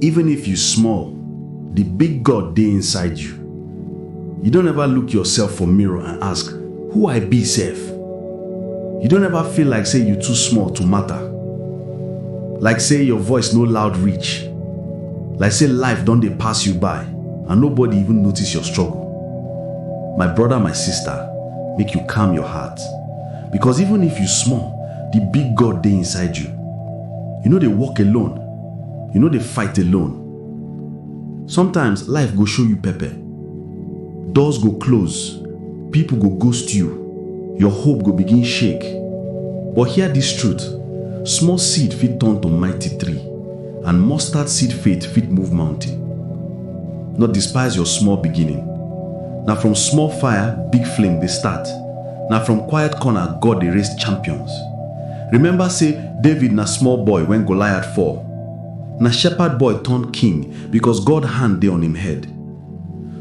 Even if you small, the big God dey inside you. You don't ever look yourself for mirror and ask, who I be sef? You don't ever feel like say you too small to matter. Like say your voice no loud reach. Like say life don dey pass you by and nobody even notice your struggle. My brother, my sister, make you calm your heart. Because even if you small, the big God dey inside you. You no dey walk alone, You no dey fight alone. Sometimes life go show you pepper. Doors go close, people go ghost you, your hope go begin shake. But hear this truth, small seed fit turn to mighty tree and mustard seed faith fit move mountain. No despise your small beginning. Na from small fire big flame dey start. Na from quiet corner God dey raise champions. Remember say David na small boy when Goliath fall. Na shepherd boy turn king because God hand dey on him head.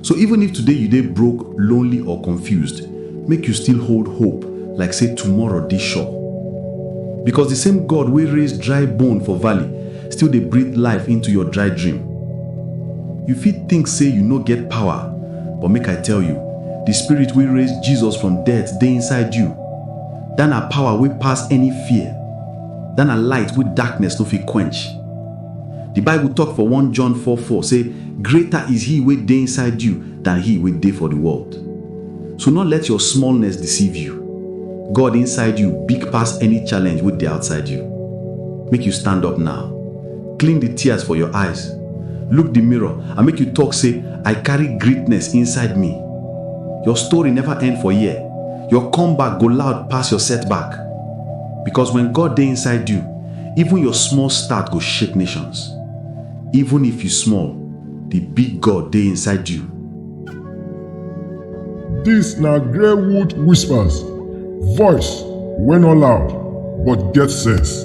So even if today you dey broke, lonely or confused, make you still hold hope like say tomorrow dey sure. Because the same God wey raise dry bone for valley still dey breathe life into your dry dream. You fit think say you no get power, but make I tell you, the spirit wey raise Jesus from death dey inside you. That na power wey pass any fear. That na light wey darkness no fit quench. The Bible talk for 1 John 4 4 say, Greater is he wey dey inside you than he wey dey for the world. So no let your smallness deceive you. God inside you big pass any challenge wey dey outside you. Make you stand up now. Clean the tears for your eyes. Look the mirror and make you talk say, I carry greatness inside me. Your story never end for here. Your comeback go loud pass your setback. Because when God dey inside you, even your small start go shake nations. Even if you small, the big God dey inside you. Dis na Greywood Whispers, voice wey no loud but get sense.